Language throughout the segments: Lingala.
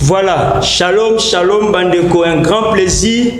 Voilà, shalom, shalom, bandeko, un grand plaisir.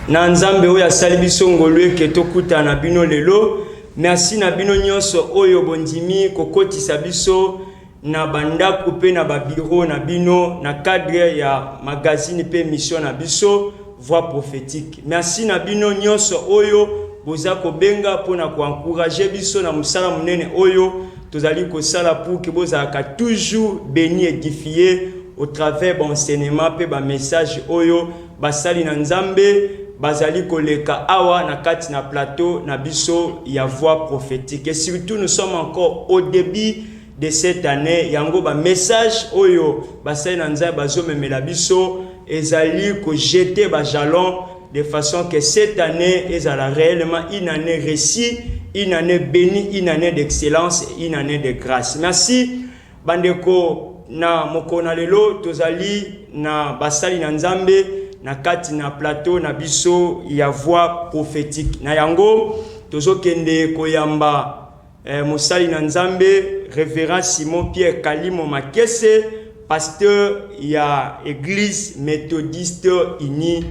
Na nzambe oyo asali biso ngolu eke tokutana bino lelo. Merci na bino nyonso oyo bondimi kokotisa biso na ba ndaku pe na ba bureau na bino na cadre ya magazine pe emission na biso voix prophetique merci na bino nionso oyo boza kobenga mpo na ko encourager biso na mosala monene oyo tozali kosala pour que bozalaka toujours beni edifie au travers baenseignement mpe bamessage oyo basali na nzambe bazali koleka awa na kati na plateau na biso ya voix prophétique et surtout nous sommes encore au début de cette annee yango ba message oyo basali na nzambe bazomemela biso ezali ko jeter ba jalon de façon que cette année ezala réellement une année réussie une année bénie une année d'excellence une année de grâce merci bandeko na mokolo na lelo tozali na basali na nzambe na kati na plateau na biso ya voix prophétique na yango tozokende koyamba Eh, mosali na Nzambe, Reverend Simon Pierre Kalimo Makese, pasteur ya Eglise Methodiste Unie.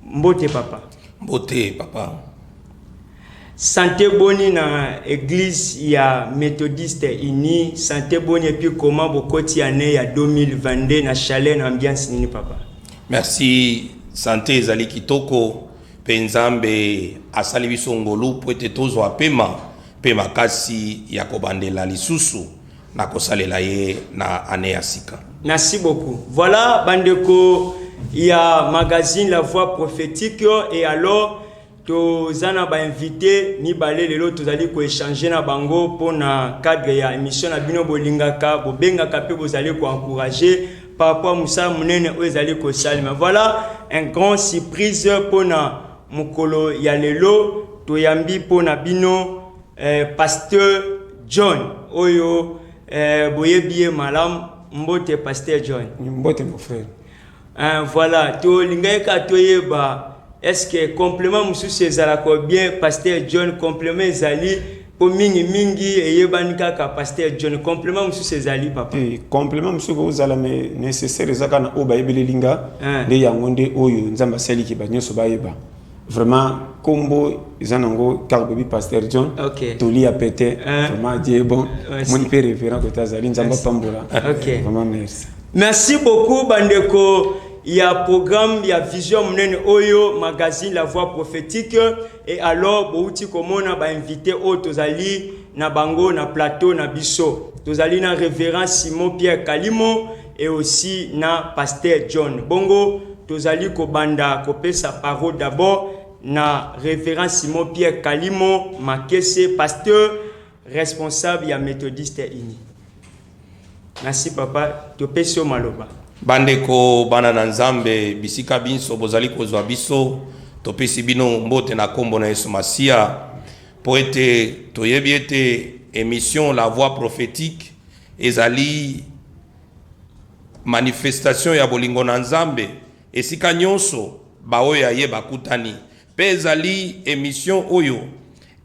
Mbote papa. Mbote papa. Sante boni na Eglise ya Methodiste Unie, sante boni et puis comment bokoti année ya 2022 na chalet na ambiance nini papa? Merci, sante ezali kitoko. Mpe Nzambe asali biso ngolu mpo ete tozwa pema mpe makasi ya kobandela lisusu na kosalela ye na annee ya sika. Merci beaucoup. Voilà bandeko ya magazine La Voix Prophétique et alors toza na ba invité mibale lelo tozali ko échanger na bango mpo na cadre ya émission na bino bolingaka bobengaka mpe bozali ko encourager par rapport mosala monene oyo ezali kosalema voilà un grand surprise mpo na mokolo ya lelo toyambi mpo na bino eh, pasteur john oyo eh, boyebi ye malamu mbote pasteur john mbote mon frère eh, voilà tolingaki kaka toyeba est ce que complément mosusu ezalaka bien pasteur john complément ezali Po mingi mingi eyebani kaka pasteur John complement mususu ezali papa? Te complement mususu ekoki kozala mais necessaire eza kaka na oyo bayebeleli nga eh. nde yango nde oyo Nzambe asali ke ba nyonso bayeba vraiment kombo eza nango kaka boyebi pasteur John okay. toli ya pete eh. vraiment Dieu bon moni pe révérend kote azali Nzambe apambola okay. vraiment merci merci beaucoup bandeko ya programme ya vision monene oyo magazine la voix prophétique Et alors bowuti komona ba invite oyo tozali na bango na plateau na biso tozali na reverend simon pierre kalimo et aussi na pasteur john bongo tozali kobanda kopesa parole d'abord na reverend simon pierre kalimo makese pasteur responsable ya methodiste uni Merci papa, topesi yo maloba. Bandeko bana na Nzambe, bisika binso bozali kozwa biso, topesi bino mbote na kombo na Yesu Masiya, mpo ete toyebi ete emission La Voix Prophétique ezali manifestation ya bolingo na Nzambe esika nyonso baoyo ya ye bakutani. Pe ezali emission oyo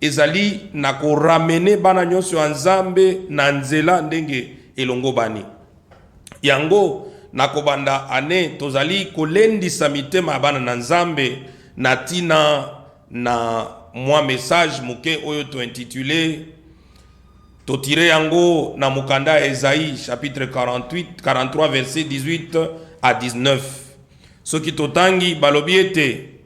ezali na ko ramener bana nyonso ya Nzambe na nzela ndenge elongobani. Yango na kobanda annee tozali kolendisa mitema ya bana na Nzambe na tina na mwa message moke oyo to intituler, to tirer yango na mokanda ya Esaie chapitre 48, 43 verset 18 à 19. Soki totangi, balobi ete.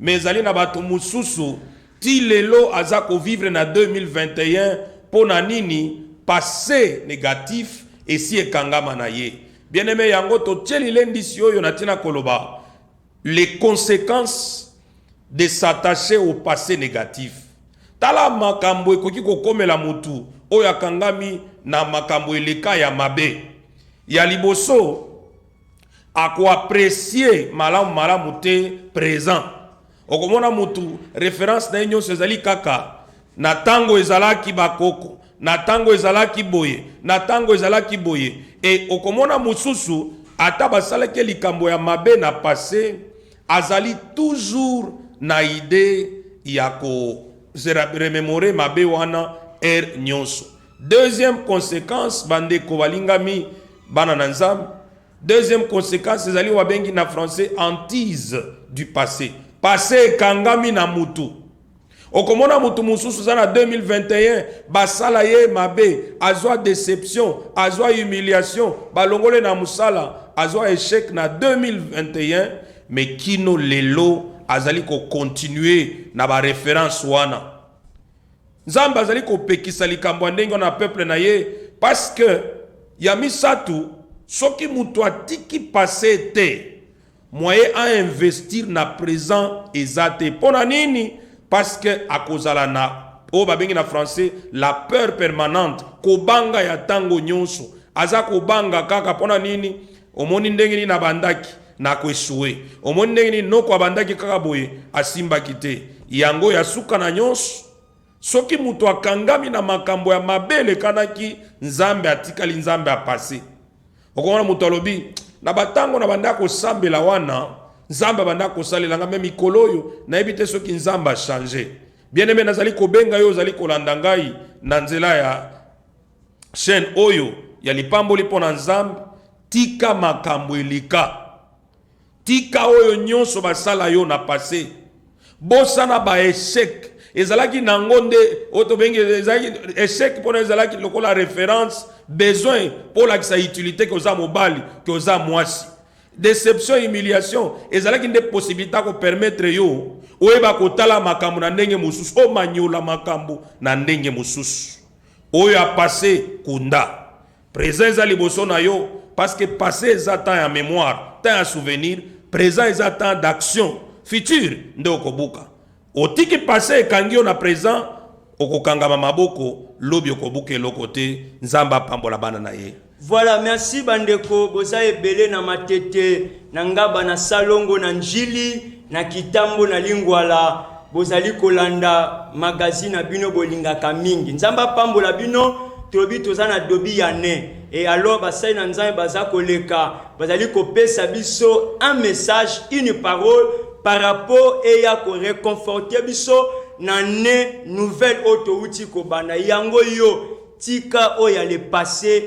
Mais ezali na batu mususu ti lelo aza ko vivre na 2021 pona nini passe negatif esi ekangama na ye bien aime yango totie lilendisi oyo na tina koloba les consequences de s'attacher au passe negatif tala makambo ekoki kokomela mutu oyo akangami na makambo eleka ya mabe ya liboso Ako apprecier malamu malamu te present. Okomona mutu reference na ye nyonso ezali kaka na tango ezalaki ba koko, na tango ezalaki boye, na tango ezalaki boye et okomona mosusu ata basalaki ye likambo ya mabe na passe azali toujours na idee ya ko se rememorer mabe wana heure nyonso. Deuxième consequence, bandeko balingami, bana na Nzambe, deuxième consequence ezali wabengi na français hantise du passé. Passé ekangami na mutu. Okomona mutu mususu za na 2021 basala ye mabe, azwa deception, azwa humiliation, balongole na musala, azwa echec na 2021 mais kino lelo azali ko continuer na ba reference wana. Nzambe azali kopekisa likambo ya ndenge wana na peuple na ye parce que ya misato soki moto atiki passe te moye a investir na present eza te mpo na nini parce que akozala na oyo babengi na français la peur permanente kobanga ya ntango nyonso aza kobanga kaka mpo na nini Omoni ndenge nini abandaki na ko echoue? Omoni ndenge nini Noko abandaki kaka boye, asimbaki te? Yango ya suka na nyonso, soki moto akangami na makambo ya mabe elekanaki, Nzambe atikali Nzambe ya passe. Okomona moto alobi na batango na banda kosambela wana Nzambe abanda kosalela nga, me mikolo oyo nayebi te soki Nzambe a change. Bien-aime, nazali kobenga yo ozali kolanda ngai na nzela ya chaîne oyo ya lipamboli mpo na Nzambe, tika makambo eleka. Tika oyo nyonso basala yo na passé. Bosana ba echec ezalaki nango nde oyo tobengi ezalaki echec mpona ezalaki lokola référence besoin mpo olakisa utilité ke oza mobali ke oza mwasi deception humiliation ezalaki nde possibilité akopermettre yo oyeba kotala makambo na ndenge mosusu omanyola makambo na ndenge mosusu Oyo ya passe kunda. Present eza liboso na yo parce que passe eza temps ya memoire, temps ya souvenir, present eza temps d'action, futur nde okobuka. Otiki passe ekangi yo na present, okokangama maboko, lobi okobuka eloko te, Nzambe apambola bana na ye. Voilà, merci bandeko, boza ebele na matete, na ngaba, na salongo, na njili, na kitambo, na lingwala. Bozali kolanda magazine na bino bolingaka mingi. Nzambe apambola bino, tolobi toza na dobi ya ne. Et alors basali na Nzambe baza koleka, bazali kopesa biso un message, une parole par rapport eya ko reconforter biso na ne nouvelle oyo towuti kobanda. Yango yo Tika oyo ya le passe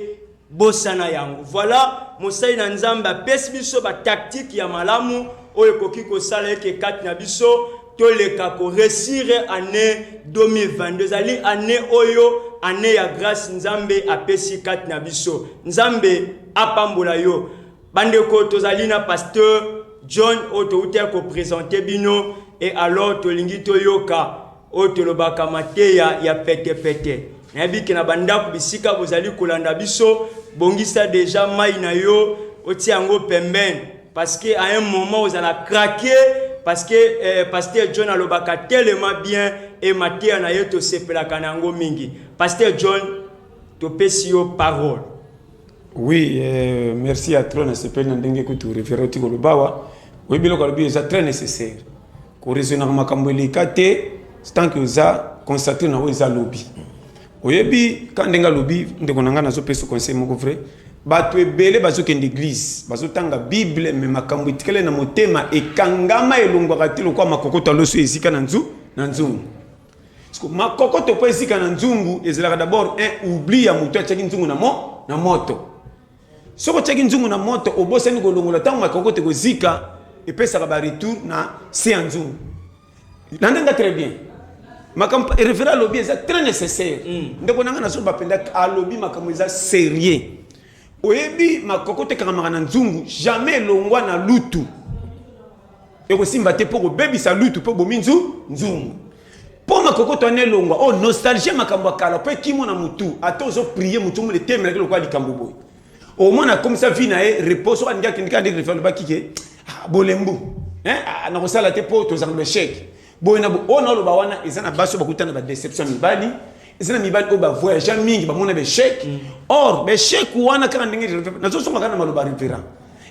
bosana yango. Voilà mosali na Nzambe apesi biso ba tactiques ya malamu oyo ekoki kosala eke kati na biso toleka ko resire annee 2022 ezali annee oyo annee ya grace Nzambe apesi kati na biso. Nzambe apambola yo. Bandeko tozali na pasteur John oyo touti ya kopresente bino e alors tolingi toyoka oyo tolobaka mateya ya petepete. Nayebi ke na bandako bisika bozali kolanda biso, bongisa deja mai na yo otia yango pembeni parce que à un moment ozala craquer parce que eh, pasteur John alobaka tellement bien et mateya na ye tosepelaka na yango mingi. Pasteur John, topesi yo parole. Oui, euh, merci à trop na sepeli na ndenge kutu refere oti koloba awa oyebi biloko alobi eza très nécessaire koraisonnaka makambo eleka te tant que oza constate na oyo eza lobi oyebi ka ndenge alobi ndeko na ngai nazopesa conseil moko vrai bato ebele bazokende eglize bazotanga bible me makambo etikali na motema ekangama elongwaka te lokola makokoto aloso esika na nzu na nzungu Siko makokoto mpo ezika na nzungu ezalaka d'abord un oubli ya moto atyaki nzungu na, mo, na moto. Soki otyaki nzungu na moto obosani kolongola ntango makokoto ekozika epesaka baretour na se ya nzungu. Landa nga très bien. Makambo référent alobi eza très nécessaire. Mm. Ndeko na nga na zoba mpenza alobi makambo eza sérieux. Oyebi makokoto ekangamaka na nzungu jamais elongwa na lutu. ekosimba te mpo kobebisa lutu mpo bomi nzu nzungu mpo makokoto wana elongwa oyo oh, nostalgie ya makambo ya kala mpo ekimo na motu ata ozoprie motu omona etemelaki lokola likambo boye omona akomisa vi na ye repos soki alingi akendeki andeki refe alobaki ke ah, bolembu ah, nakosala te mpo tozanga basheke boye na oyo naoloba wana eza na basi oyo bakuta na badeception ya mibali eza na mibali oyo bavoyagea mingi bamona baechec mm. or baechec wana kaka ndenge nazosoma kaka na maloba reverant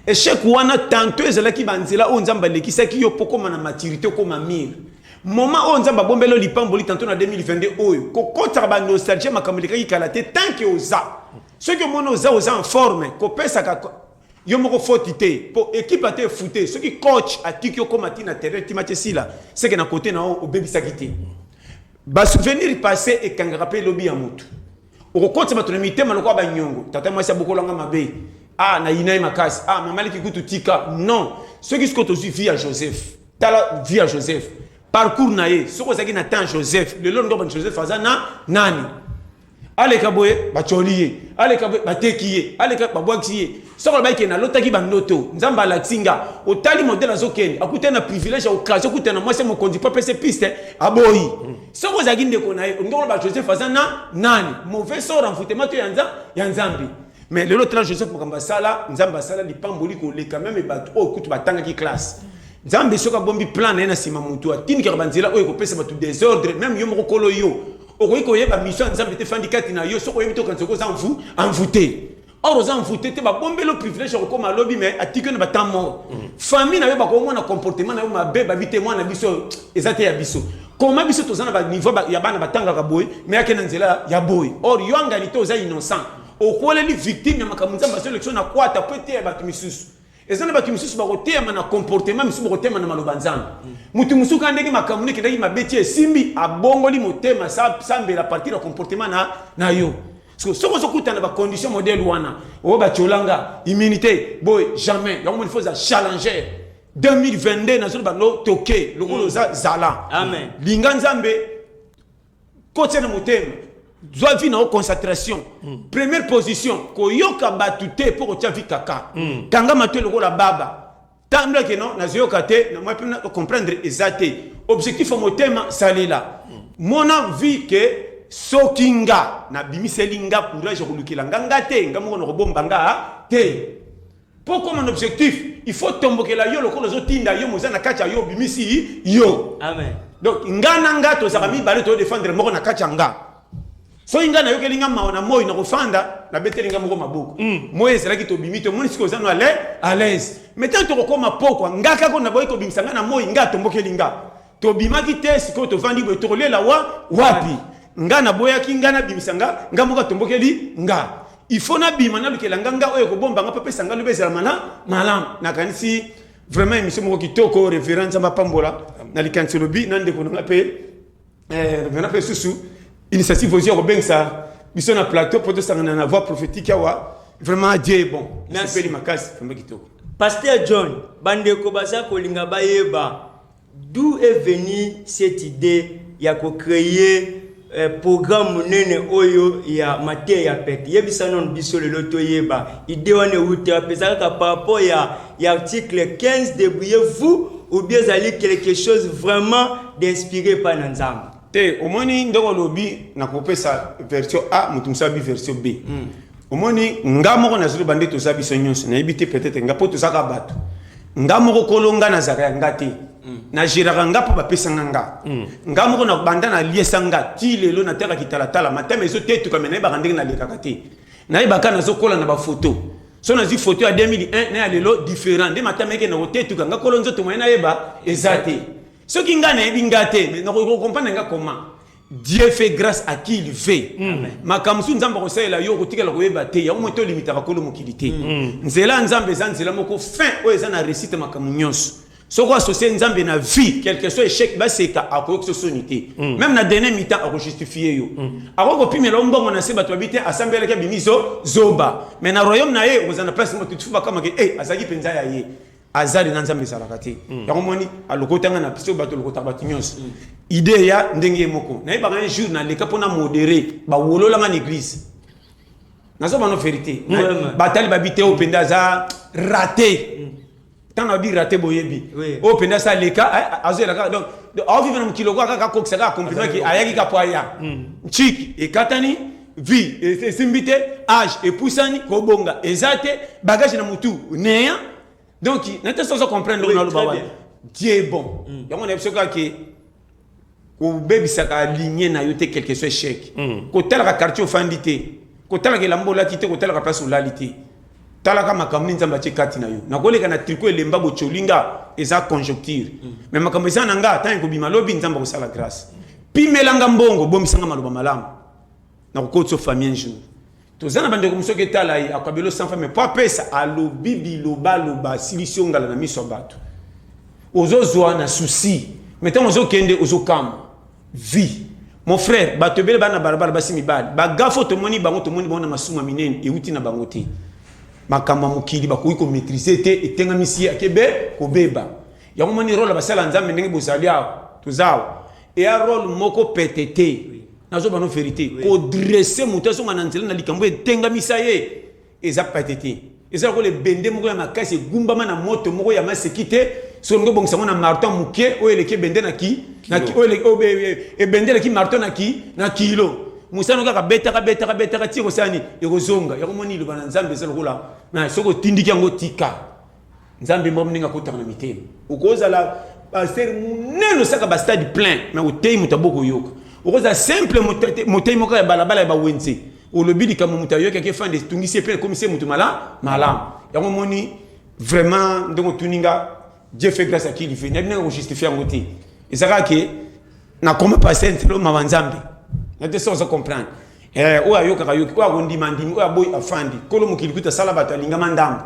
echec wana tanto ezalaki banzela oyo nzambe alekisaki yo mpo okoma na maturité okoma mire moment oyo nzambe abombeli oyo lipamboli tanto na 2022 oyo kokotaka banostalgie makambo elekaki kala te tanke oza soki omoni oza oza en forme kopesaka Yo moko faute te po equipe ata efute soki coach atiki yo koma ti na terrain ti match esila seke na cote na yo obebisaki te ba souvenir passe ekangaka pe lobi ya mutu okokotisa bato na mitema lokola banyongo tata mwasi abokolanga mabe ah na yina ye makasi ah mama leki kutu tika non soki soki tozwi vie ya joseph tala vie ya joseph parcours na ye soki ozalaki na temps joseph lelo ndobani joseph aza na nani aleka boye batyoli ye aleka boye bateki ye aleka babwakisi ye soko alobaki ke nalotaki bandoto nzambe alakisi nga otali modele azokende akutani na privilège ya okazio okutana na mwasi mokonzi mpo apese piste aboyi soko ozalaki ndeko na ye olingi koloba joseph aza na nani mauvais sort envoutema to ya nzambe mais lelo tala joseph makambo asala nzambe asala lipamboli koleka meme bato oyo kutu batangaki classe nzambe soki abombi plan na ye na nsima motu atindikaka banzela oyo ekopesa bato desordre meme yo moko kolo yo okoki koyeba miso ya nzambe te fandi kati na yo soki oyebi te okanisa okoza envoute or oza envoute te babombeli privilège ya kokoma lobi mais atiki yo na batemp mort mm. famille na yo bakomona comportement na yo mabe babi te mwana biso eza te ya biso koma biso toza na baniveau ya bana batangaka boye me yake na nzela ya boye or yo angani te oza innocent okoleli victime ya makambo nzambe asolekisio na kwata mpo eteya bato misusu eza na bato mosusu bakoteyama na comportement mosusu bakoteyama na maloba nzambe moto mosusu kaka ndenge makambo nde ekendaki mabe ti esimbi abongoli motema sambela partir ya comportement na, na yo soki ozokutana bacondition modele wana oyo oh, bacolanga immunité boye jamais yango moni fo oza challenger 2022 nazoloba lo toke lokola oza zala linga nzambe Kotisa na motema. Zwa vie na yo concentration. Mm. Première position, koyoka batu te mpo kotya vie kaka. Mm. Kanga matoi lokola baba. Tambola ke non, nazoyoka te, na mwa mpe na comprendre eza te. Objectif ya motema salela. Mm. Mona vie ke soki nga nabimiseli nga courage ya kolukela nga nga te, nga moko nakobomba nga te. Po okoma na objectif il faut otombokela yo lokola ozotinda yo moza na kati ya yo obimisi yo. Amen. Donc nga na nga tozalaka mibale to defendre moko na kati ya nga. Soki nga nayokeli nga mawa na moi na kofanda nabeteli nga moko maboko. Mm. Moi ezalaki tobimi to moni siko oza no à l'aise. Mais tant tokokoma pokwa nga kako na boyi kobimisa nga na moi nga atombokeli nga. Tobimaki te sikoyo tovandi boye tokolela wa wapi? Nga naboyaki nga nabimisa nga nga moko atombokeli nga il faut nabima nalukela nga nga oyo ekobomba nga mpe apesa nga lobi ezala mala malamu nakanisi vraiment émission moko kitoko révérend nzambe apambola na likanisi olobi na ndeko na nga mpe eh, révérend mpe susu initiative ozwi ya kobengisa biso na plateau mpo tosangana na voix prophétique awa vraiment dieu est bon nasepeli makasi vraiment kitoko Pasteur John, bandeko baza kolinga bayeba D'où est venu cette idee ya ko creer eh, programme munene oyo ya mateya ya pete? Yebisa nanu biso lelo toyeba idee wana ewuti wapi? Eza kaka par rapport ya, ya article 15 debrouillez-vous ou bien ezali quelque chose vraiment d'inspiré pa na Nzambe? Te, omoni ndenge olobi nakopesa version A, moto mosusu abi version B. omoni nga moko nazali bande toza biso nyonso nayebi te peut-être nga mpo tozaka bato nga moko kolo nga nazalaka ya nga te mm. nageraka nga mpo bapesanga nga mm. nga moko na banda naliesa nga ti lelo nataka kitalatala matama ezotetuka me nayebaka ndenge nalekaka te nayebaka nazokola na bafoto so nazwi foto ya 2001 na ya lelo différent nde matama eke nakotetuka nga kolo nzoto moye nayeba eza te soki nga nayebi nga te nakokomprendre nga koma Dieu fait grace à qui il veut. Makambo mosusu Nzambe akosalela yo okotikala koyeba te. Yango moi tolimitaka kolo mokili te. Nzela ya Nzambe eza nzela moko fin oyo eza na réussite makambo nyonso. Soki oassocie Nzambe na vie, quelque soit échec baseka akoyokisa yo soni te. Meme na dernier mi-temps akojustifier yo. Akoki kopimela yo mbongo na se bato bayebi te asambelaki abimi zo zoba. Mais na royaume na ye okozala na place moko te tout le monde bakama ke eh azalaki mpenza ya ye. Azali na Nzambe ezalaka te. Mm. Yango moni alokota nga na biso bato lokota bato nyonso. Mm. Idee ya ndenge ye moko. Nayebaka un jour naleka mpo na modere bawolola nga na eglise. Nazo bano verite. Mm. Batali babi te oyo mpenza aza rate. Mm. Ntango abi rate boyebi. Oui. Oyo mpenza asa aleka eh, azoyela kaka donc aovive na mokili lokola kaka akokisa kaka compliment ke ayaki kaka mpo aya. Mm. Ntiki ekatani. vie esimbi te age epusani kobonga eza te bagage na mutu neya donc na te sozo comprendre oui, naloba wana dieu bon mm. yango na biso kaka ke kobebisaka ligne na yo te quelque soit échec mm. kotalaka quartier ofandi te kotalaka elamba olati te kotalaka place olali te talaka makambo nini nzambe atie kati na yo nakoleka na triko elemba botyoli nga eza conjoncture mm. mais makambo eza na nga ntango ekobima lobi nzambe akosala grâce pimelanga mbongo bomisanga maloba malamu na kokoti yo famille un jour toza na bandeko mosuki etala ye akabelo sans famille mpo apesa alobi bilobaloba asilisi yo ngala na miso ya bato ozozwa na souci mai ntango ozokende ozokamwa vie mon frère bato ebele bana balabala basi mibali bagafo tomoni bango tomoni bango na masuma minene euti na bango te makambo ya mokili bakoki komaîtrise te etengamisi ye akebe kobeba yango moni role basala nzambe ndenge bozali awa toza awa eya role moko pete te nazoba no verite kodresse moto azonga na nzela na likambo etengamisa ye eza pate te eza lokola ebende moko ya makasi egumbama na moto moko ya maseki te soki olingi obongisa yango na marton moke oyo eleki ebende na ki ebende eleki marton na ki na kilo mosano kaka betaka betaka betaka ti ekosala nini ekozonga yango moni liloba na nzambe eza lokola soki otindiki yango tika nzambe mwa ndenge akotaka na mitema okozala pasteur monene osaka bastade plein me oteyi moto ya bokoyoka okozala simple moteyi moko ya balabala ya bawenze olobi likambo moto ayoki ke fande etungisi ye mpe ekomisi ye moto mala malamu yango omoni vraiment ndenge otuni nga dieu fait grâce à qui il veut nayebi ndenge kojustifie yango te eza kaka ke nakoma pasteur ntelo mawa nzambe na te soza comprendre Eh, oyo ayokaka yoki, oyo akondima ndimi, oyo aboyi afandi. Kolo mokili kuta sala bato alingama ndambo.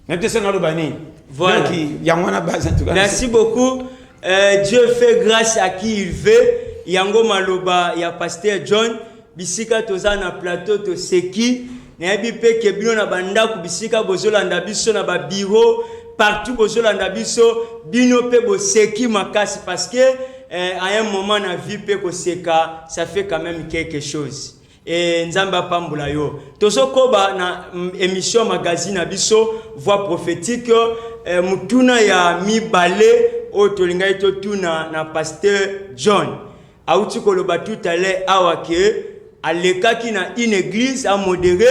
Na te sena loba nini? Voilà. Donc yango wana base en tout cas. Merci beaucoup. Euh, Dieu fait grâce à qui il veut. Yango maloba ya pasteur John. Bisika toza na plateau toseki. Nayebi pe ke bino na ba ndaku bisika bozo landa biso na ba bureau partout bozo landa biso bino pe boseki makasi parce que eh, à un moment na vie pe koseka ça fait quand même quelque chose. Et Nzambe apambola yo. Tozo koba na mm, émission magazine na biso voix prophétique eh, mutuna ya mibale oyo tolingaki totuna na pasteur John. Awuti koloba tout à l'heure awa que alekaki na une eglise a modere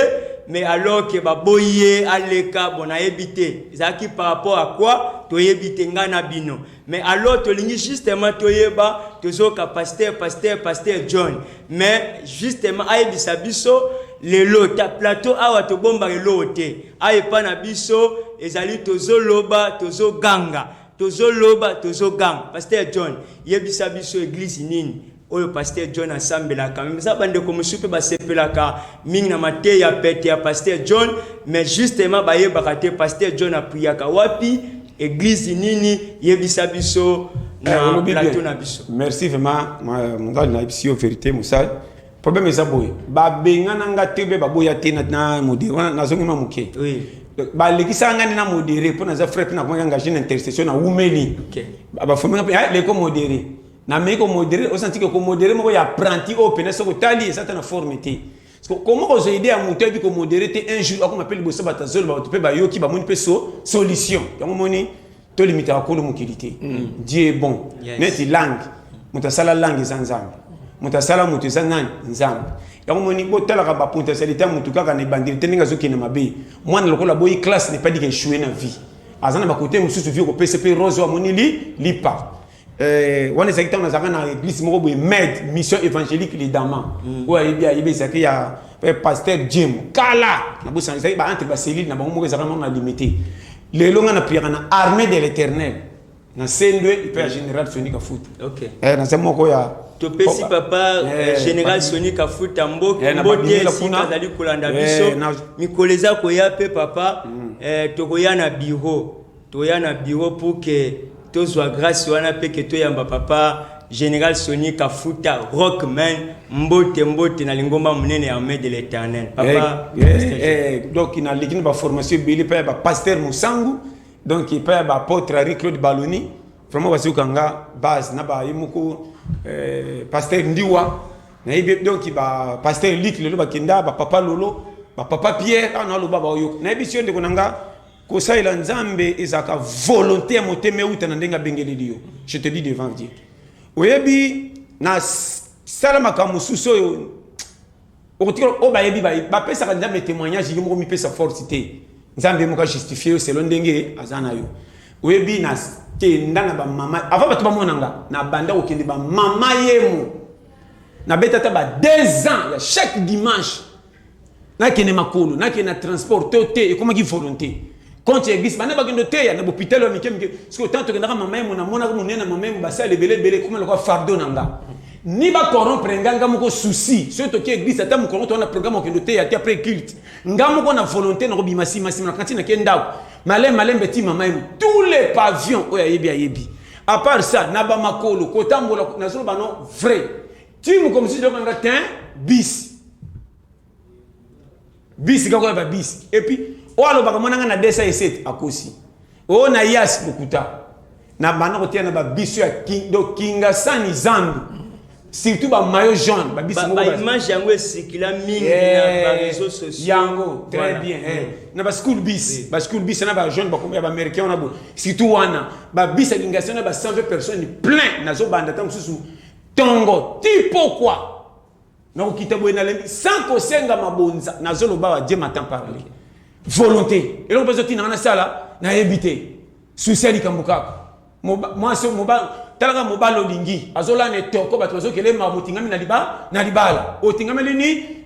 mais alors que baboyi ye aleka bon nayebi te ezalaki par rapport à quoi toyebi te ngai na bino mais alors tolingi justement toyeba tozoyoka pasteur pasteur pasteur john mais justement ayebisa biso lelo ta plateau awa tobombaka eloko te awa epai na biso ezali tozoloba tozoganga Tozo loba tozo ganga. Pasteur John yebisa biso eglise nini oyo pasteur John asambelaka mais eza bandeko mosusu mpe basepelaka mingi na mateya pete ya pasteur John mais justement bayebaka te pasteur John apriyaka wapi eglise nini yebisa biso na plateau na biso Merci vraiment, ma- mozali na yebisi yo verite mosali. problème eza boye babengana nga te mpe baboya te na modere wana nazongi ma moke balekisaka nga nde na modere mpo naza frais mpe nakomaki engage na intercession na wumeli bafomi nga mpe ah, leko modere nameki komodere osantiki komodere moko ya apprenti oyo mpenza soki otali eza ta na forme te koma kozwa ide ya moto ayebi komodere te un jour akoma mpe liboso bato azoloba bato mpe bayoki bamoni mpe solution yango moni to limitaka kolo mokili te mm. dieu est bon yes. neti langue moto asala langue eza nzambe moto asala moto eza nani nzambe yango moni botalaka bapotentialité ya motu kaka na ebandeli te ndenge azokende mabe mwana lokola boyi classe n'est pas dit que echoue na vie aza na bakote mosusu vie okopesa mpe rose amoni li lipa Euh, wana ezalaki ntango nazalaka na eglise moko boye med mission évangélique lidama mm. oyo ayebi ayebi ezalaki ya eh, pasteur jim kala nabosana ezalaki baentre baselile na bango moko ezalaka moko na limite lelo ngai napriaka na armée de l'éternel na sendwe mpe ya mm. général soni kafuta okay. eh, naza moko ya topesi papa eh, eh, général soni kafuta mboki eh, mbote esika azali kolanda biso mikolo eza koya mpe papa mm. eh, tokoya na biro Toya na bureau pour que tozua grace wana pe que toyamba papa General Sony Kafuta Rockman mbote mbote na lingomba munene ya armee de l'Eternel. Papa eh, eh, Pasteur eh, Joseph. eh, donc na leki na ba formation ebele pa ya ba pasteur Musangu donc pa ya ba apôtre Henri Claude Baloni vraiment bazoka nga base na ba ye moko eh, pasteur Ndiwa na yebi donc ba pasteur Luc lelo bakenda ba papa Lolo ba papa Pierre ana loba ba oyo na yebi sio ndeko na nga Kosalela Nzambe ezalaka volonte ya motema euta na ndenge abengeleli yo. Je te dis devant Dieu. Oyebi na sala makambo mosusu oyo okotikala oyo bayebi bapesaka Nzambe témoignage yo moko mipesa force te. Nzambe moko ajustifie yo selon ndenge aza na yo. Oyebi na kenda na bamama avant bato bamona nga na banda kokende bamama yemo nabeta ata ba 2 ans ya chaque dimanche nakende makolo nakende na transport to te ekomaki volonté konti ya bisi bana bakende oteya na bopitalo ya mike mike soki ntango tokendaka mama yemo namonaka monene ya mama yemo basala ebele ebele ekoma lokola fardo na nga ni bacorompre nga nga moko souci soki toki eglise ata mokongo towana programme okende oteya te après culte nga moko na volonté nakobima nsima nsima na kanti nake ndako malembe malembe ti mama yemo tous les pavions oyo ayebi ayebi apart ça na bamakolo kotambola nazoloba no vrai ti mokomisi loko nanga tin bis bis kaka ya babis epuis oyo alobaka mwana ngai na desa esete akosi oyo na yas lokuta na banda kotia na babiso ya do kingasani zambi surtout bamayo jaune babisimage yango esikila mingi na bareseau sociaux yango très bien na baschool bis baschool bis na bajaune bakomi ya baaméricain wana bo surtout wana babis ya kingasani na ba 120 personnes plein nazobanda ntango mosusu Tongo ti pokwa na kokita boye nalembi sans kosenga mabonza nazoloba wa je m'attend parle volonté eloko mpenza otinanga nasala nayebi te susi ya likambo kaka mwasi talaka mobali olingi azolana etoko bato bazokele makambo otingami na libala otingameli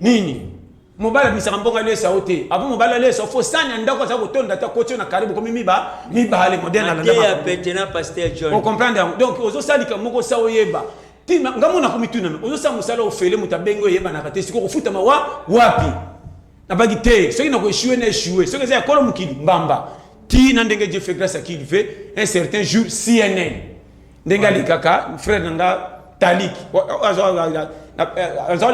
nini Mobali abimisaka mbongo alesa yo te. Apo mobali alesa yo fo sani ya ndako aza kotonda te akoti yo na kare bokomi miba mibale modele na landa makambo. Pete na pasteur John. O comprendre yango. Donc ozo salika moko sa oyeba. Tima nga mona ko mituna no. Ozo sa musala ofele mutu abengi oyeba na kate siko kofuta mawa wapi. Na bagi te. Soki na ko échouer na échouer. Soki eza ya kolo mukili mbamba. Ti na ndenge Dieu fait grâce à qui il veut un certain jour CNN. ndenge alikaka frère na nga talik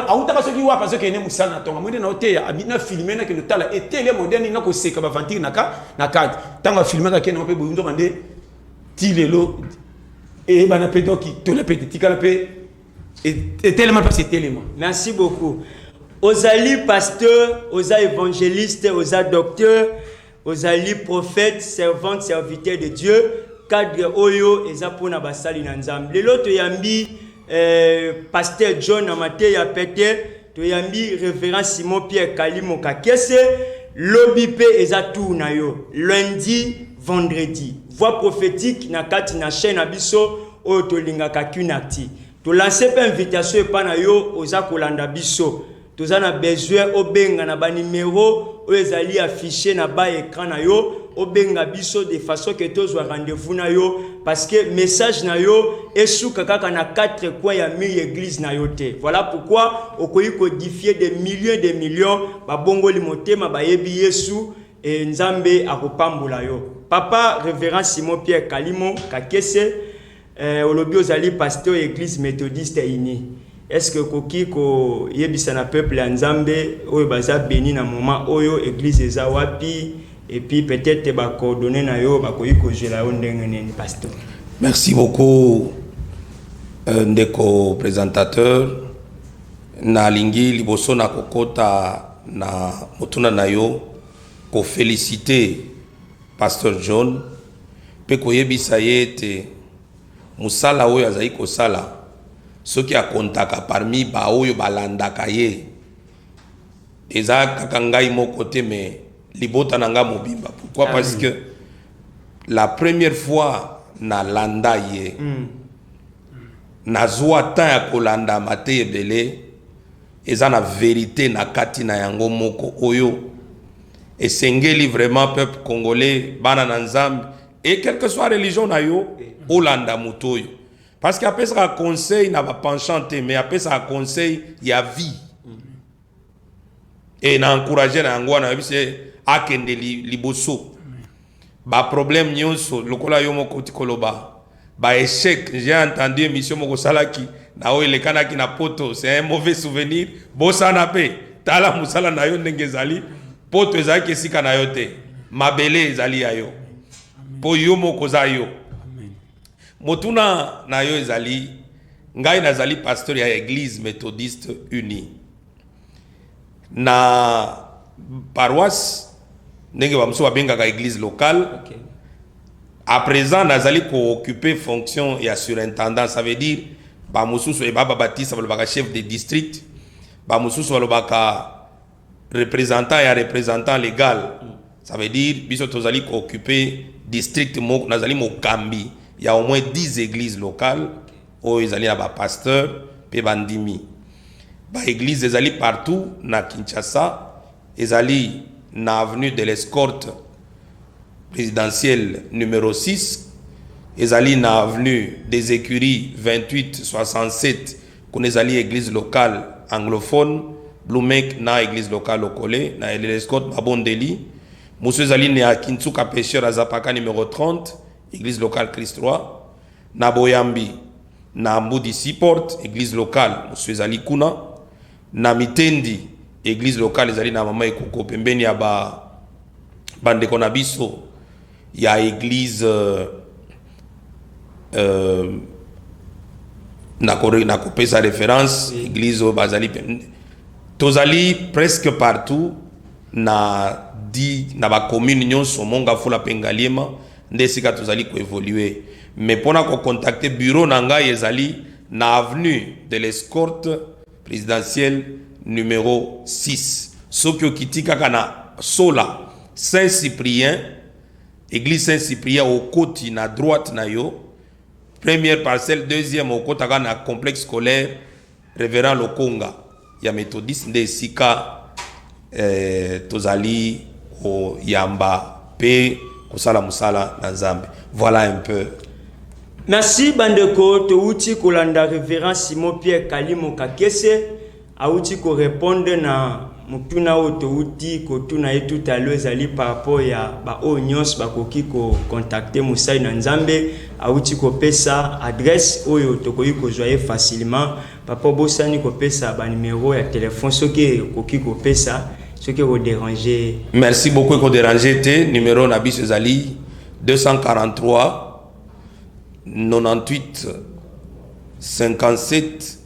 awutaka soki wapi azokende mosala na tonga mwende na oteya abina filme nakende otala etele moderne nga koseka bavantire na kati ntango afilmaka kende ngo mpe boyundoka nde ti lelo eyebana mpe doki tola mpe tetikala mpe etelema mpasi etelema merci beaucoup ozali pasteur oza évangéliste oza docteur Ozali prophète, servante, serviteur de Dieu, cadre oyo eza pona basali na Nzambe. Lelo toyambi eh, pasteur John na mateya pete, toyambi révérend Simon Pierre Kalimo Kakese, lobi pe eza tour na yo. Lundi, vendredi. Voix prophétique na kati na chaîne na biso oyo tolingaka Kunakti. Tolanse pe invitation epa na yo oza kolanda biso. Toza na besoin obenga na ba numero oyo ezali affiche na ba ecran na yo obenga biso de façon que tozwa rendez-vous na yo parce que message na yo esuka kaka na quatre coins ya mur ya église na yo te voilà pourquoi okoki kodifie de millions de millions babongoli motema bayebi yesu e nzambe akopambola yo papa révérend simon pierre kalimo kakese Eh, olobi ozali pasteur ya eglise methodiste uni est-ce que okoki koyebisa na peuple ya nzambe oyo baza beni na moment oyo eglise eza wapi et puis peut-être ba coordonnées na yo bakoki kozwela yo ndenge nini pasteur merci beaucoup euh, ndeko présentateur nalingi liboso na kokota na motuna na yo kofélicite Pasteur John, mpe koyebisa ye ete mosala oyo azali kosala soki akontaka parmi baoyo balandaka ye eza kaka ngai moko te me libota na ngai mobimba pourquoi ah, parce oui. que la première fois nalanda ye mm. nazwa temps ya kolanda mate ebele eza na verite na kati na yango moko oyo esengeli vraiment peuple congolais bana na nzambe et quelque soit religion na yo olanda moto oyo parce que apesaka conseil na bapenchant te mais apesaka conseil ya vie e na encourage na yango wana yebisi akende liboso Ba problème nioso lokola yo moko oti koloba ba echec j'ai entendu emission moko osalaki na oyo elekanaki na poto c'est un mauvais souvenir bosana pe tala musala na yo ndenge ezali poto ezalaki esika na yo te mabele ezali ya yo po yo moko oza yo motuna na yo ezali ngai nazali pasteur ya eglise methodiste unie na paroisse ndenge bamosusu babengaka église locale okay. à présent nazali kooccupe fonction ya surintendant ça veut dire bamosusu eba eh, babatisa balobaka chef de district bamosusu balobaka représentant ya représentant légal mm. ça veut dire biso tozali kooccupe district moko nazali mokambi ya au moins 10 églises locales oyo ezali na bapasteur mpe bandimi Ba eglises ezali partout na Kinshasa, ezali na avenue de l'Escorte présidentielle numéro 6, ezali na avenue des Écuries 2867 kuna ezali église locale anglophone Blumek na église locale Okole na l'Escorte Babondeli. Mosusu ezali na Kinsuka Pêcheur Azapaka numéro 30, église locale Christ Roi na Boyambi Na Mbudi Seaport, eglise locale mosusu ezali kuna. Na Mitendi, eglise locale ezali na Mama Ekuko pembeni ya ba bandeko na biso ya eglise euh, euh, nakopesa référence église oyo bazali tozali presque partout na di na bacommune nyonso mongafula mpe ngaliema nde esika tozali ko evoluer mais pona ko contacter bureau na ngai ezali na avenue de l'escorte presidentielle numero 6 soki okiti kaka na sola saint cyprien église saint cyprien okoti na droite na yo première parcelle deuxième okotaka na complexe scolaire Reverend Lokonga ya Methodiste nde esika eh, tozali koyamba pe kosala musala na Nzambe. Voilà un peu. Merci bandeko, touti kolanda Reverend Simon Pierre Kalimo Kakese, auti ko répondre na Motuna oyo towuti kotuna ye tout à l'heure ezali par rapport ya ba oyo nionso bakoki ko contacter mosali na Nzambe, awuti kopesa adresse oyo tokoki kozua ye facilement. Papa obosani kopesa ba numero ya telephone soki ekoki kopesa soki eko deranger ye. Merci beaucoup eko deranger te numero na biso ezali 243 98 57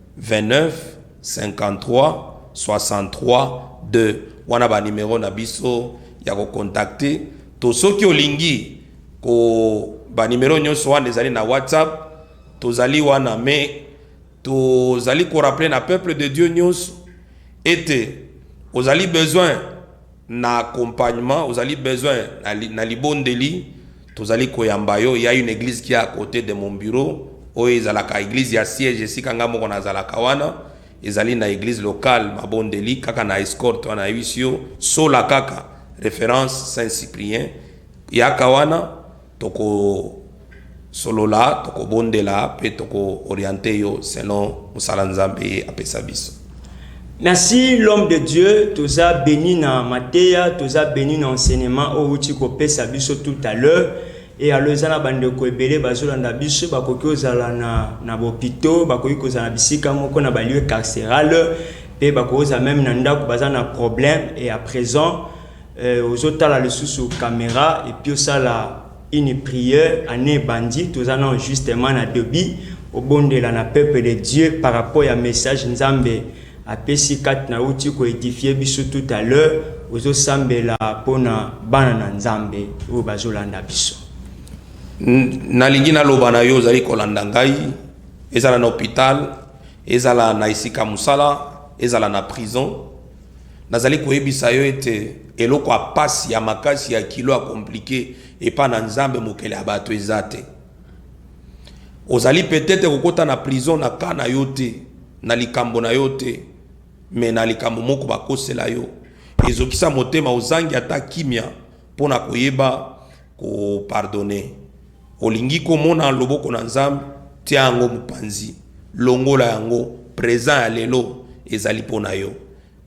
29 53 63 2 wana ba numero na biso ya ko contacter to soki olingi ko ba numero nyonso wana ezali na whatsapp tozali wana mais tozali ko rappeler na peuple de dieu nyonso ete ozali besoin na accompagnement ozali besoin na libondeli tozali koyamba yo ya une eglise qui a à cote de mon bureau oyo ezalaka eglise ya siège esika nga moko nazalaka wana ezali na eglise locale mabondeli kaka na escorte wana nayebisi yo sola kaka référence saint cyprien yaka wana Tokosolola, tokobondela, pe toko orienter yo selon musala Nzambe ye apesa biso. Merci l'homme de Dieu toza beni na mateya toza beni na enseignement oyo outi kopesa biso tout à l'heure et alors eza na bandeko ebele bazolanda biso bakoki kozala na na bopito bakoki kozala na bisika moko na balieu carceral mpe bakoki kozala meme na ndako baza na problème et à présent Eh, ozo tala lisusu camera et puis osala une prière année bandi toza na justement na debut obondela na peuple de Dieu par rapport ya message Nzambe apesi kati na uti ko édifier biso tout à l'heure ozo sambela pona bana na Nzambe oyo bazolanda biso nalingi naloba na yo ozali kolanda ngai ezala na hôpital ezala na esika mosala ezala na prison Nazali koyebisa yo ete eloko ya pasi ya makasi ya kilo ya komplike epa na Nzambe mokele ya bato eza te. Ozali petete kokota na prison na ka na yo te, na likambo na yo te, me na likambo moko bakosela yo ezokisa motema ozangi ata kimya Mpo na koyeba kopardone, olingi komona loboko na Nzambe? Tia yango mopanzi, longola yango. Present ya lelo ezali mpo na yo.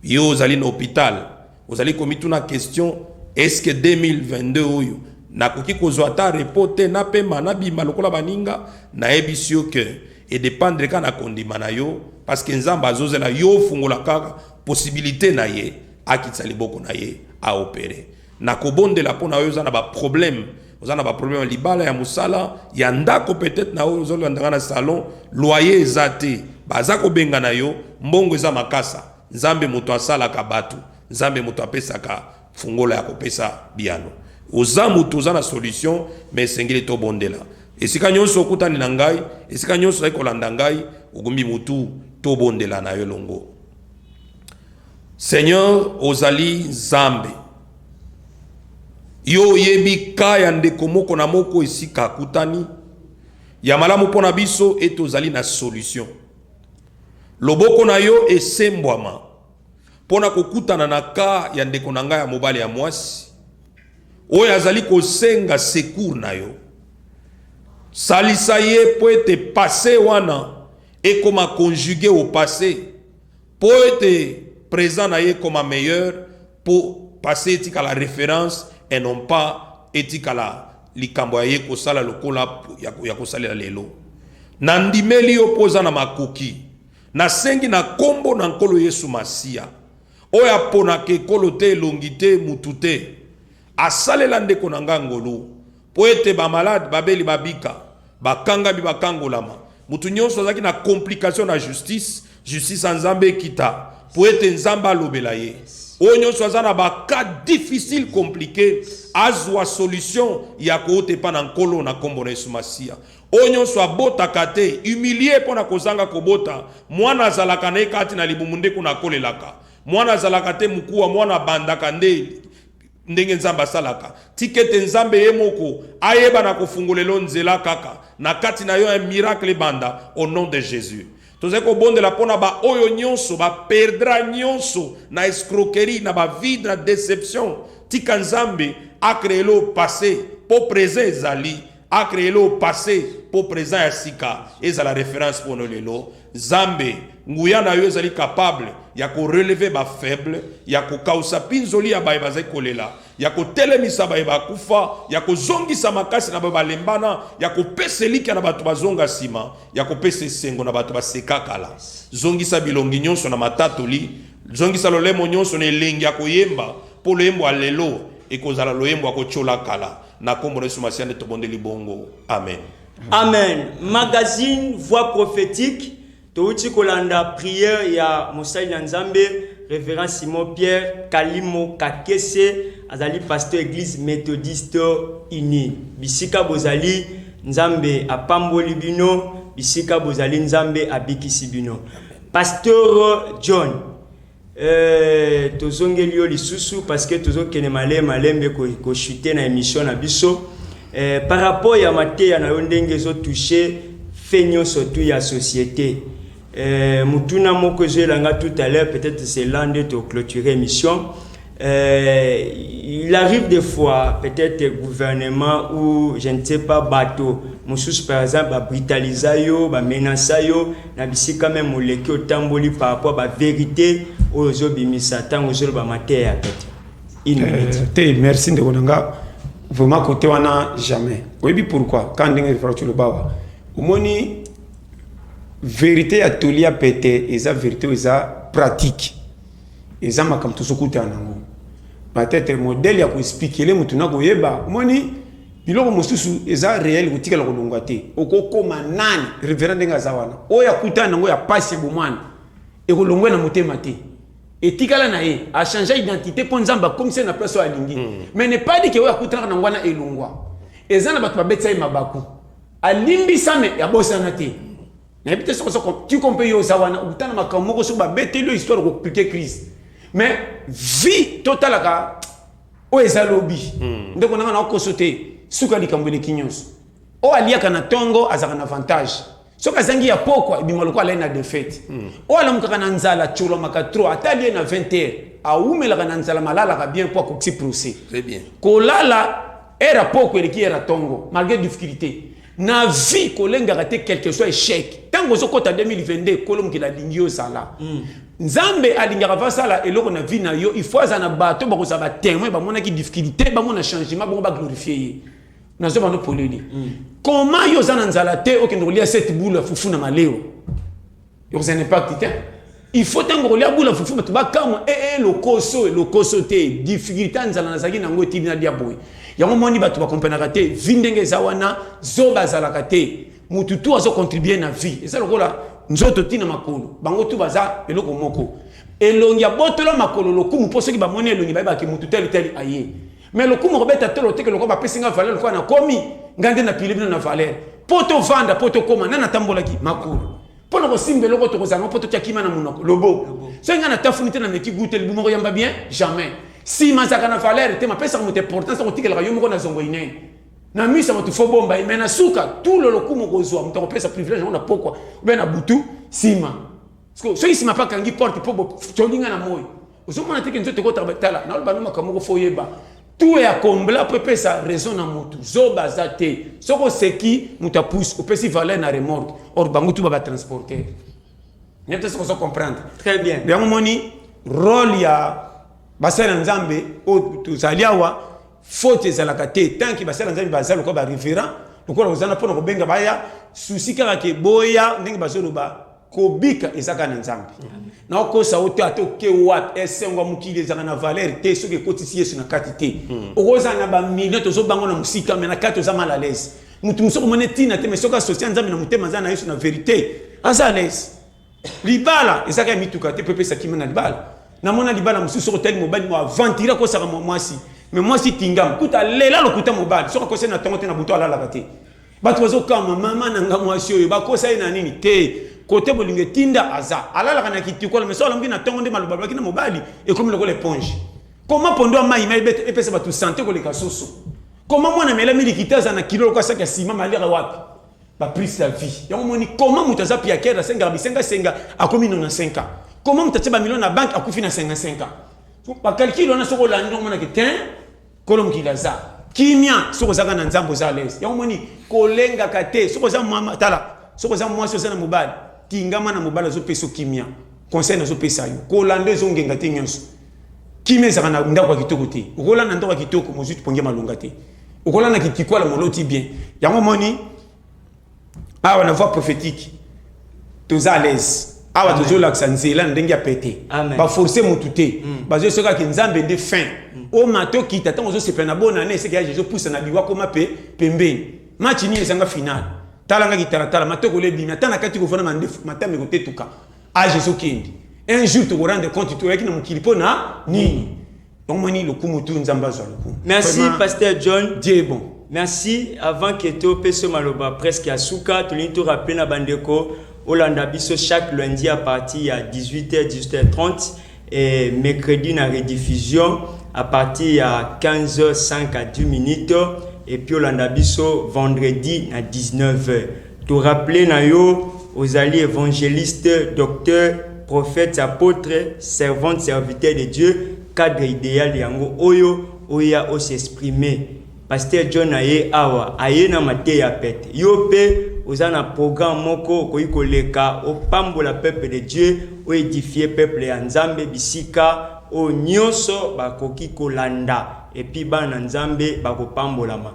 Yo ozali na hopital, ozali komituna question, eske 2022 oyo nakoki kozwa ata repos te, napema, nabima lokola baninga? Nayebisi yo ke edependre kaka na kondima na yo, parceke Nzambe azozela yo ofungola kaka posibilite na ye akitisa liboko na ye a opere na kobondela mpo na oyo oza na baproblème oza na baproblème ya libala ya mosala ya ndako peut-être na oyo ozolanda nga na salon loyer eza te baza kobenga na yo mbongo eza makasa nzambe moto asalaka bato nzambe moto apesaka fungola ya kopesa biyano oza moto oza na solution me esengeli tobondela esika nyonso okutani na ngai esika nyonso ozali kolanda ngai ogumbi motu tobondela na yo elongo Seigneur ozali nzambe yo oyebi ka ya ndeko moko na moko esika akutani ya malamu mpo na biso ete ozali na solution loboko na yo esembwama mpo na kokutana na ka ya ndeko na ngai ya mobali ya mwasi oyo azali kosenga secour na yo salisa ye mpo ete passe wana ekoma conjugue au passe Po ete present na ye ekoma meilleur po passe etikala reference et non pas etikala likambo ya ye kosala lokola ya kosalela lelo. Na ndimeli yo po oza na makoki. Na sengi na kombo na Nkolo Yesu Masiya, oyo aponaka ekolo te, elongi te, mutu te, asalela ndeko na nga ngolu. Mpo ete bamalade, babeli babika, bakangami bakangolama, moto nyonso azalaki na complication na justice, justice ya Nzambe ekita, mpo ete Nzambe alobela ye. Oyo nyonso aza na ba cas difficile complique, azwa solution ya kouta epa na Nkolo na kombo na Yesu Masiya. Oyo nyonso abotaka te, humilie mpo na kozanga kobota, mwana azalaka na ye kati na libumu nde kuna akolelaka. Mwana azalaka te mukuwa, mwana abandaka nde. Ndenge Nzambe asalaka, tika ete Nzambe ye moko ayeba na kofungolelo nzela kaka na kati na yo un miracle ebanda au nom de Jesus. Tozali kobondela mpo na ba oyo nionso ba perdra nionso na escroquerie na ba vide na deception tika Nzambe a creelo passe mpo present ezali A creer le passe pour present ya sika ezala reference pour lelo. Zambe, nguya na yo ezali capable ya ko relever ba faibles, ya ko kausa pinzoli ya baye bazali kolela, ya ko telemisa baye bakufa, ya ko zongisa makasi na baye balembana, ya ko pesa elikia na bato bazonga sima, ya ko pesa esengo na bato baseka kala. Zongisa bilongi nyonso na matatoli, zongisa lolemo nyonso na elengi ya koyemba, po loyembo ya lelo ekozala loyembo ya kotiola kala. Na kombo na Yesu Masiya nde tobondeli bongo. Amen. Amen magazine voix prophetique touti kolanda prière ya mosali na nzambe révérend simon pierre kalimo kakese azali pasteur église méthodiste unie bisika bozali nzambe apamboli bino bisika bozali nzambe abikisi bino pasteur john Eeh tozongeli yo lisusu parce que tozokende male malembe ko, ko chuter na emission na biso eh, par rapport ya mateya na yo ndenge ezo toucher fait nyonso tu ya société eh, motuna moko ezoyela nga tout à l'heure peut-être c'est là nde to clôturer émission Euh, il arrive des fois peut-être gouvernement ou je ne sais pas bateau mosusu par exemple babritalisa yo bamenasa yo na bisika meme oleki otamboli par rapport baverité oyo ozobimisa ntango ozoloba mateya ya pete une euh, minute euh, te merci ndeko na nga vraiment kote wana jamais oyebi pourquoi ka ndenge efrati lobawa omoni verité ya toli ya pete eza verité oyo eza pratique Eza makambo tozo kutana nango. Peut-etre modèle ya ko expliquer mutu na koyeba, omoni biloko mosusu eza reel kotikala kolongwa te. Okokoma nani? Reverend ndenge aza wana, oyo akutana nango ya pasi ebomwana ekolongwa ye na motema te. Etikala na ye, a changea identite po Nzambe akomisa ye na place oyo alingi. Mais ne pas dire que oyo akutanaka nango wana elongwa. Eza na batu babetisa ye mabaku, alimbisa mais abosana te. nayebi te soki oza tiko mpe yo oza wana okuta na makambo moko soki babeteli yo histoire okoplike crise mais vie totalaka oyo eza lobi hmm. ndeko nanga naokoso te suka likambo eleki nyonso oyo aliaka na ntongo azalaka na avantage soki azangi ya pokwa ebima lokola alai na defete hmm. oyo alamukaka na nzala colomaka tro ata alie na 20 heure awumelaka na nzala malalaka bien mpo akokisi procès kolala ere ya pokwa eleki ere ya ntongo malgré difficulté Na vie kolengaka te quelque soit echec. Tango ozo kota 2022 kolo mokili alingi yo zala. Mm. Nzambe alingaka va sala eloko na vie na yo, il faut azana bato bako za ba témoin ba monaki difficulté, ba mona changement, bongo ba glorifier ye. Na zo bano poleli. Mm. Comment yo zana nzala te okende kolia cette boule fufu na maleo? okozala na impakti te il faut ntango okolia bula fufu bato bakamwa ee eh, eh, lokoso lokoso te difficulté ya nzala nazalaki na yango etindi nalia boye yango moni bato bakomprenaka te vi ndenge eza wana zoba azalaka te motu tu azocontribue na vie eza lokola nzoto ti na makolo bango tu baza eloko moko elongi abotolo makolo lokumu mpo soki bamoni elongi bayebaki motu tali tali aye Mais lokumu kobeta tolo teke lokola bapesi nga valeur lokola nakomi nga nde napili bino na valeur mpo tovanda mpo tokoma nani atambolaki makolo mpo na kosimba eloko tokozala ngo mpo totya kima na monoko lobo soki nga natafuni te nameki gu te libumu koyamba bien jamais nsima azalaka na valeur te mapesaka moto importance ya kotikelaka yo moko na zongo inene na miso ya moto fo bomba ye mai na suka tulo lokumu kozwa moto akopesa privilège yango na pokwa obe na butu nsima soki nsima mpe akangi porte mpo bocolinga na moi ozomona teke nzoto ekotabatala naloba no makambo moko fo oyeba tout ya kombla mpo epesa raison na motu zoba aza te soki oseki moto apuse opesi valeur na remorque or bango tu babatransporter nde te soki ozo comprendre très bien yango moni role ya basali ya nzambe oyo tozali awa faute ezalaka te tanki basali ya nzambe baza lokola bareverant lokola kozana mpona kobenga baya susi kaka ke boya ndenge bazoloba kobika eza kaka na nzambe na okosa yo te ata oke wapi esengo ya mokili ezalaka na valeur te soki ekotisi yesu na kati te hmm. okozala na bamilio tozobango na mosika me na kati oza mal alaise moto mosusu okomona ntina te me soki asosia nzambe na motema aza na yesu na verité aza alaise libala ezaka ya mituka te mpe epesa kima na libala namona libala mosusu soki otali mobali mo aventire akosaka mwasi me mwasi tingama kuta lela lokuta mobali soki akosi na ntongo te na butu alalaka te Batu bazo kama maman na nga mwasi oyo bakosa ye na nini te kote bolingo etinda aza alalaka na kitikola mais so alamuki na tongo nde maloba alobaki na mobali ekomi lokola eponge koma pondo ya mai mai epesa bato sante koleka soso koma mwana mela milikita aza na kilo lokola saki ya sima malira wapi baprise ya vie yango moni koma moto aza piakere asengaka bisengasenga akomi nona 5 ans koma moto atye bamilio na banke akufi na 55 ans bakalkile wana soki olandi omonake tin Kolo mokili aza kimia soki ozaka na nzambe oza alaise yango moni kolengaka te soki oza mama tala soki oza mwasi oza na mobali tingama na mobali azopesa kimia conseil nazopesa yo kolanda ezongenga te nyonso kimia ezaka na ndako ya kitoko te okolanda ndako ya kitoko mozwi pongi ya malonga te okolanda kitikwala moloti bien yango moni awa na voix prophétique toza à l'aise awa tozolakisa nzela na ndenge ya pete baforce motu te mm. bazoyesokaki nzambe nde fin mm. o mato kita ntango ozosepela na bona ne eseke ya jesu pusa na liwa koma mpe pembeni match nini ezanga finale talanga kitalatala matokolo ebimi ata na kati kovanda mandefu matama ekotetuka age ezokende un jour tokorendre compte toyaki na mokili mpo na nini Omoni lokumu tu Nzambe azwa lokumu. Merci Vraiment, Pasteur John. Dieu est bon. Merci avant que to peso maloba presque ya suka tolingi to rappeler na bandeko olanda biso chaque lundi à partir ya 18h 18h30 et mercredi na rediffusion à partir ya 15h5 à 10 minutes et puis olanda biso vendredi na 19h. To rappeler na yo ozali evangeliste, docteur, prophète, apotre, servante, serviteur de Dieu, cadre ideal yango oyo oya o s'exprimer. Pasteur John aye awa, aye na mateya pete. Yo pe oza na programme moko okoki koleka opambola peuple de Dieu, o edifier peuple ya Nzambe bisika oyo nyonso bakoki kolanda et puis bana na Nzambe bakopambolama.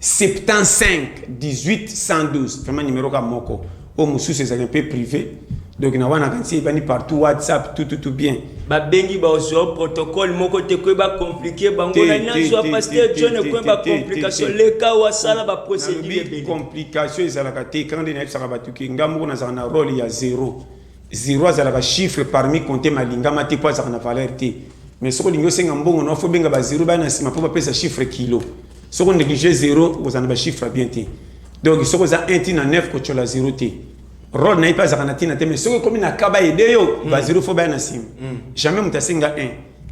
75 18 112 vraiment numero ka moko oyo mosusu ezali mpe privé donc na wana kanisi ebandi partout whatsapp tout tout tout bien babengi bazwa protocole moko te koye bacomplike bango na nyonso ya pasteur john ekoye bacomplication leka wasala baprocédure ebele complication ezalaka te kaka nde nayebisaka bato ke ngai moko nazalaka na role ya zero Zero azalaka chiffre parmi compte malingama te po azalaka na valeur te. Mais soki olingi osenga mbongo na yo faut obenga ba zero baya na sima po bapesa chiffre kilo. Soki o negliger zero okozala na ba chiffre ya bien te. Donc soki oza 1 ti na 9 kotshiola zero te. Role na ye pe azalaka na tina te mais soki ekomi na cas ba aider yo ba zero faut baya na sima. Jamais moto asenga 1,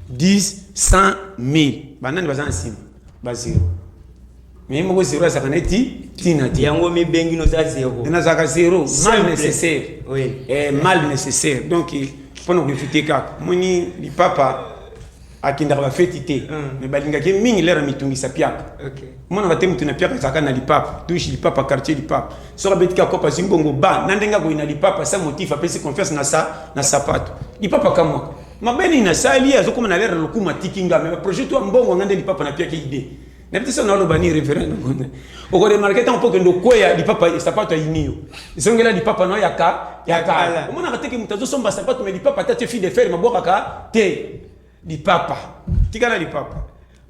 10, 100, 1000 ba nani baza na sima? Ba zero. Mais ye moko zero azalaka na ti tina te. Yango mi bengi no za zero. Na zaka zero mal nécessaire. Oui. Eh, mal nécessaire. Donc pona ko éviter kaka. Moni li papa akendaka bafeti te me balingaki mingi lere mitungisa piaka omonaka te moto na piaka ezalaka na lipapa touche lipapa quartier lipapa soki abeti ka kopa azwi mbongo ba na ndenge akoyi na lipapa sa motif apesi confiance na sa na sapato lipapa kamwaka mabe nini nasali azokoma na lere lokuma atiki nga me baprojet to ya mbongo nga nde lipapa na piaka ide nayebi te soki naoloba nini reverend na bonde okoremarke ntango mpo okende okweya lipapa sapato ayini yo zongela lipapa na yo ya kala omonaka teke moto azosomba sapato me lipapa ata te fille de fer mabwakaka te lipapa tikala lipapa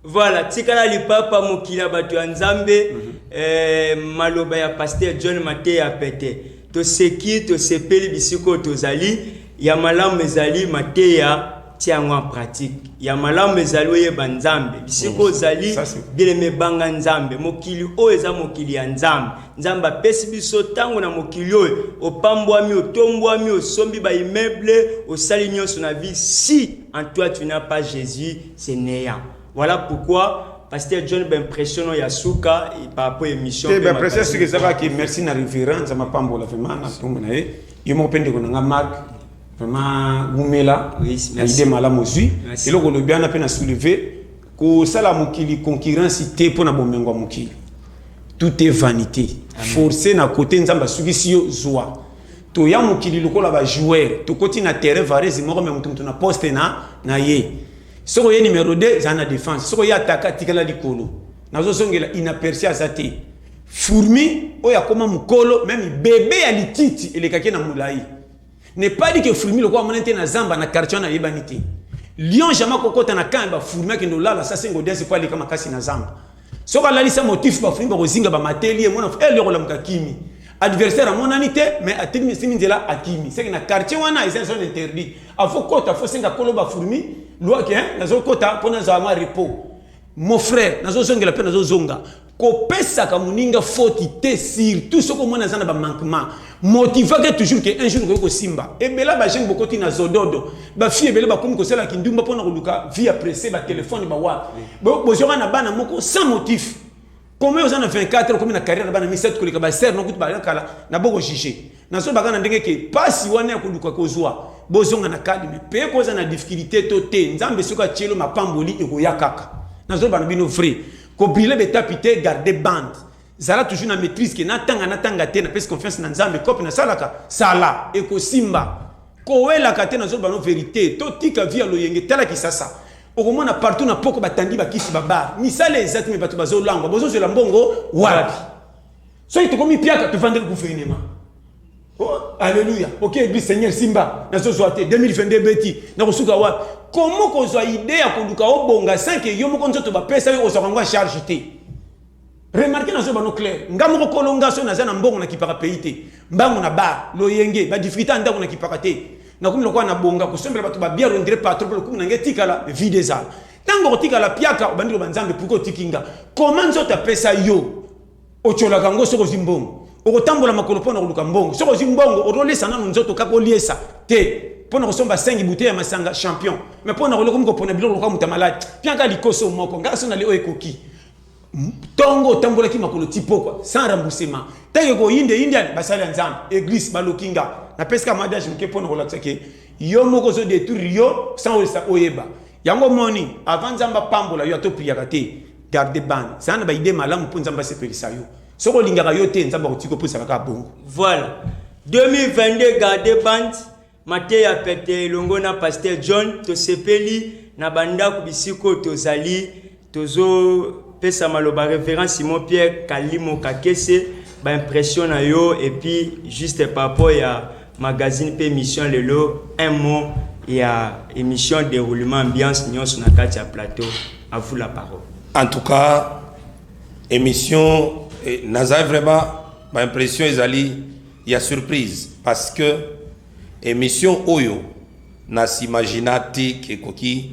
voilà tikala lipapa mokili ya bato ya nzambe mm -hmm. eh, maloba ya paster john mateya pete toseki tosepeli bisiko tozali Ya malamu ezali mateya tia yango en pratique. Ya malamu ezali oyeba Nzambe. Bisiko ozali bielema ebanga Nzambe. Mokili oyo eza mokili ya Nzambe. Nzambe apesi biso ntango na mokili oyo opambwami, otombwami, osombi ba immeubles, osali nyonso na vie. Si en toi tu n'as pas Jésus, c'est néant. Voilà pourquoi pasteur john baimpression no ya suka par rapport émission te baimpression soki ezalaki merci na reverence amapambola vraimen na ntongo na ye yo moko mpe ndeko na nga mark vraiment wumela na ide malamu ozwi eloko olobi wana mpe na soulever kosala mokili concurrence te mpo na bomengo ya mokili tout est vanité force na kote nzambe asukisi yo zwa toya mokili lokola bajoueur tokoti na terrain varese moko me moto moto na poste na, na ye soki oye numero 2 ezala na defense soki oye ataka atikala likolo nazozongela inaperci aza te Fourmi oyo akoma mukolo meme bebe ya lititi elekaki na mulayi. Ne pas dit que fourmi lokola amona te na zamba na quartier na yebani te. Lion jamais kokota na camp ba fourmi akende olala sa sengo dance po aleka makasi na zamba. Soki alalisa motif ba fourmi bakozinga ba mateli ye mona eh lion kolamuka kimi. Adversaire amonani te mais atimi simi nzela akimi. Seke na quartier wana eza zone interdit. Afo kota fo senga kolo ba fourmi loi que nazo kota pona zala mwa repos. Mon frère nazo zongela pe nazo zonga. Kopesaka moninga foti te surtout soki omoni aza na ba manquement. Motivaka toujours que un jour okoki kosimba. Ebela ba jeunes bokoti na zododo. Ba filles ebele bakomi kosala kindumba pona koluka vie ya presse, ba telephone ba wa. Bo bozwaka na bana moko sans motif. Combien oza na 24 okomi na carrière na bana misatu koleka ba sœurs no kutu ba kala na boko juger. Nazo baka na ndenge ke pasi wana ya koluka kozwa bozonga na calme. Pe koza na difficulté to te. Nzambe soki atielo mapamboli ekoya kaka. Nazo bana bino vrai. Ko briller b'etape te, garder bande. Zala toujours na maitrise que na tanga na tanga te, na pesi confiance na Nzambe, coop na salaka, sala, eko simba. Ko welaka te, nazo loba no verite, to tika vie ya loyenge, tala kisasa, oko mona partout na poko ba tandi ba kisi, ba bar, misala eza te mais batu bazo langwa, bozo zwela mbongo wapi? Soki toko mi piaka, to vandeli gouvernement. Oh, alléluia. Ok, église Seigneur Simba, na zozwa te 2022 beti, na kosuka wapi? Comment kozwa idée ya koluka obonga sans que yo moko nzoto bapesa yo ozwa yango charge te. Remarquez na zoba no clair, nga moko kolonga so naza na mbongo na kipaka pays te. Mbango na ba, loyenge, ba difficulté anda ko na kipaka te. Na kumi lokwa na bonga kosombela bato ba bière on dirait pas trop lokumu na nge tikala vide ezala. Tango otikala piaka obandi loba nzambe pourquoi otikinga? Comment nzoto apesa yo? Otyolaka yango soki ozwi mbongo. Okotambola makolo mpo na koluka mbongo. Soki ozwi mbongo, otolesa nano nzoto kaka oliesa te mpo na kosomba sengi bute ya masanga champion. Me mpo na kolokomi kopona biloko lokola moto ya maladi, piaka likoso moko. Ngai so nali oyo ekoki. Ntongo otambolaki makolo ti pokwa, sans remboursement. Ntango ekoyinde yindiani, basali ya Nzambe, eglise, baloki nga. Napesi kaka mwa adage moke mpo na kolakisa ke yo moko ozo detruire yo sans oyeba. Yango omoni avant Nzambe apambola yo ata opriaka te garde bana zala na ba idee malamu mpo Nzambe asepelisa yo soki olingaka yo te Nzambe akotika opusaka kaka bongo. Voilà 2022 garde bande mateya pete elongo na Pasteur John tosepeli na bandako bisiko tozali Tozo pesa maloba reverend Simon Pierre kalimo kakese ba impression na yo et puis juste par rapport ya magazine pe emission lelo un mot ya emission deroulement ambiance nionso na kati ya plateau à vous la parole. En tout cas emission eh, naza vraiment ba impression ezali ya surprise parce que emission oyo na s'imagina te ekoki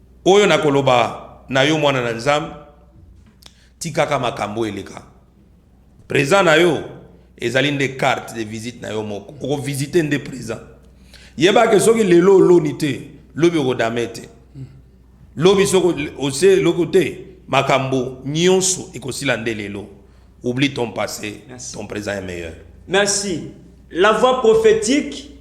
Oyo nakoloba na yo mwana na Nzambe, tikaka makambo eleka. Present na yo ezali nde carte de visite na yo moko. Okovisite nde present. Yeba ke soki lelo oloni te, lobi okodame te. Lobi soki ose eloko te, makambo nyonso ekosila nde lelo. Oublie ton passé, ton present est meilleur. Merci. La voix prophétique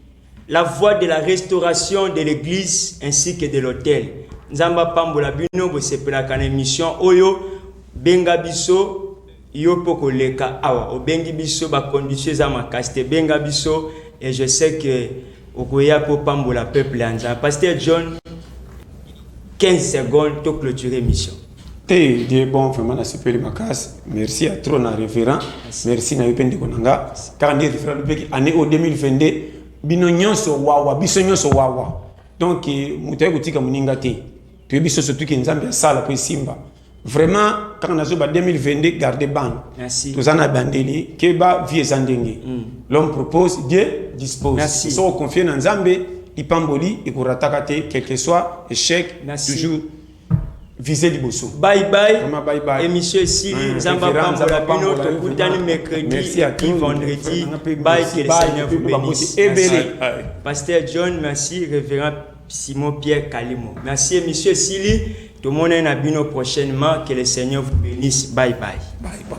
La voix de la restauration de l'eglise ainsi que de l'hôtel. Nzambe apambola bino bosepelaka na emission oyo benga biso yo mpo koleka awa obengi biso bacondition eza makasi te benga biso et je sais que okoya mpo pambola peuple ya nzambe pasteur john 15 secondes to clôture émission Hey, Dieu bon vraiment nasepeli makasi merci ya trop na révérend merci na yo mpe ndeko na nga kaka nde révérend lobeki année oyo 2022 bino nyonso wawa biso nyonso wawa donc eh, moto aye kotika moninga te toyebi so surtout ke nzambe asala mpo esimba vraiment kaka nazoba 2022 garde bande Merci. toza na bandeli keba vie eza ndenge l'homme propose dieu dispose Merci. so oconfie na nzambe lipamboli ekorataka te quelque soit échec Merci. toujours vise liboso bye bye vraiment bye bye émission esili nzambe apambola bino tokutani mercredi et vendredi bye que le seigneur vous bénisse ebele pasteur john merci révérend simon pierre kalimo merci émission esili tomonani na bino prochainement que le seigneur vous bénisse bye bye bye bye